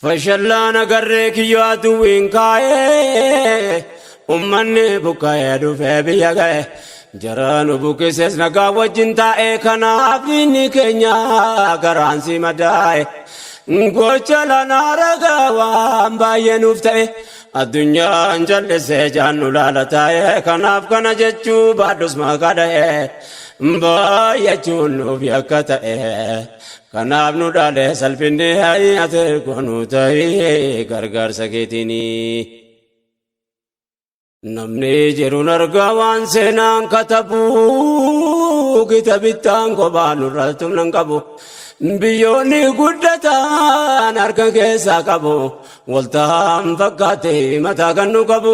Fashallaan agarree kiyyoo aduwwiin kaa'ee ummanni buqqa'ee dhufee biyya ga'e jaraan buqqisees nagaa wajjin taa'ee kanaaf inni keenya garaan si madaa'e gocha lanaa ragaa waan baay'ee nuuf ta'e addunyaan jallisee jaannu laala taa'e kanaaf kana jechuu baadhus maqaa dha'e baay'achuun nuuf yakka ta'e Kanaaf nu dhaale salphinni ha'i ati erga nu ta'i gargaarsa keetiinii. Namni jiruun argaa waan seenaan katabu gita bittaan kophaa nurra tumnan qabu. Biyyoonni guddatan harka keessaa qabu. Waltaan fakkaatee mataa kan nu qabu.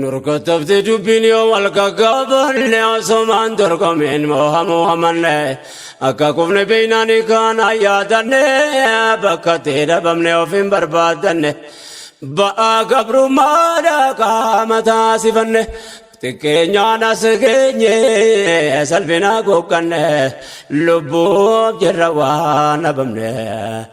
Nurkattafti dubbiin yoo wal gaggaabanne osomaan dorgomeen moohamuu hamanne akka kufne beeynaan kaana yaadanne bakka ta'e dhabamne of hin barbaadanne ba'aa gabrummaadha qaama taasifanne xiqqeenyaan as geenye salphinaa googganne lubbuuf jirra waan dhabamne.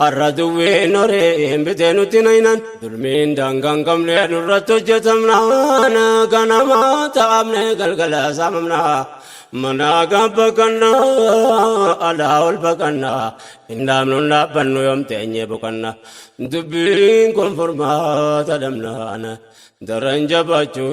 Har'a duwween horee hin bitee nutti naynaan dulmiin daangaan qabne nurratti hojjetamnaan ganama taa'amne galgala saamamna manaa gad baqanna alaa ol baqanna hin dhaabnu hin dhaabbannu yoom teenyee boqanna dubbiin kun furmaata dhabnaan daran jabaachuu